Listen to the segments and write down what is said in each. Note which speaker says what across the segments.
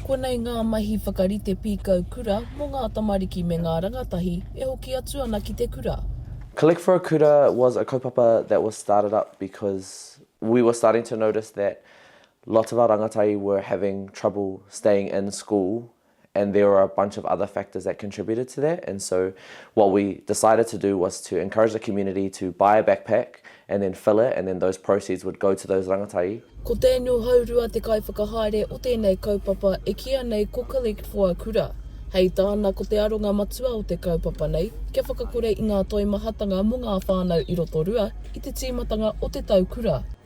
Speaker 1: Konei ngā mahi whakarite pīkau kura mō ngā tamariki me ngā rangatahi e hoki atu ana ki te kura. Collect for a Kura
Speaker 2: was a kaupapa that was started up because we were starting to notice that lots of our rangatahi were having trouble staying in school and there were a bunch of other factors that contributed to that and so what we decided to do was to encourage the community to buy a backpack and then fill it and then those proceeds would go to those rangatahi. Ko Daniel
Speaker 1: Haurua te kaiwhakahaere o tēnei kaupapa e kīa nei ko Collect for a Kura. Hei tāna ko te aronga matua o te kaupapa nei kia whakakore i ngā toimahatanga mō ngā whānau i Rotorua i te tīmatanga o te tau kura.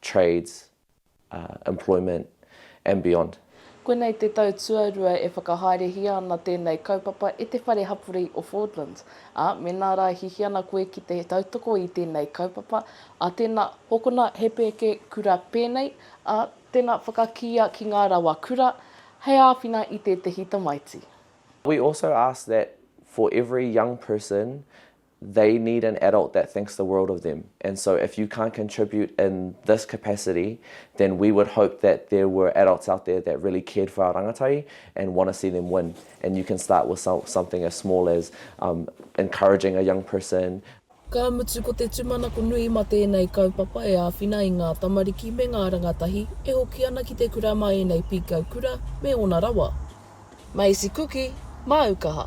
Speaker 2: trades, employment and beyond. Koinei te tau
Speaker 1: tuarua e whakahaerehia ana tēnei kaupapa e te Whare Hapori o Fordlands, ā, mēnā rā e hihi ana koe ki te tautoko i tēnei kaupapa, ā, tēnā, hokona he pēke kura pēnei, ā, tēnā, whakakīia ki ngā rawa kura hei āwhina i tētehi tamaiti. We also
Speaker 2: ask that for every young person they need an adult that thinks the world of them and so if you can't contribute in this capacity then we would hope that there were adults out there that really cared for our rangatahi and want to see them win and you can start with something as small as um, encouraging a young person Ka mutu
Speaker 1: ko te tumanako nui ma tēnei kaupapa e āwhina i ngā tamariki me ngā rangatahi e hoki ana ki te kura ma ēnei pīkau kura me ōna rawa. Maisi kuki, māu kaha.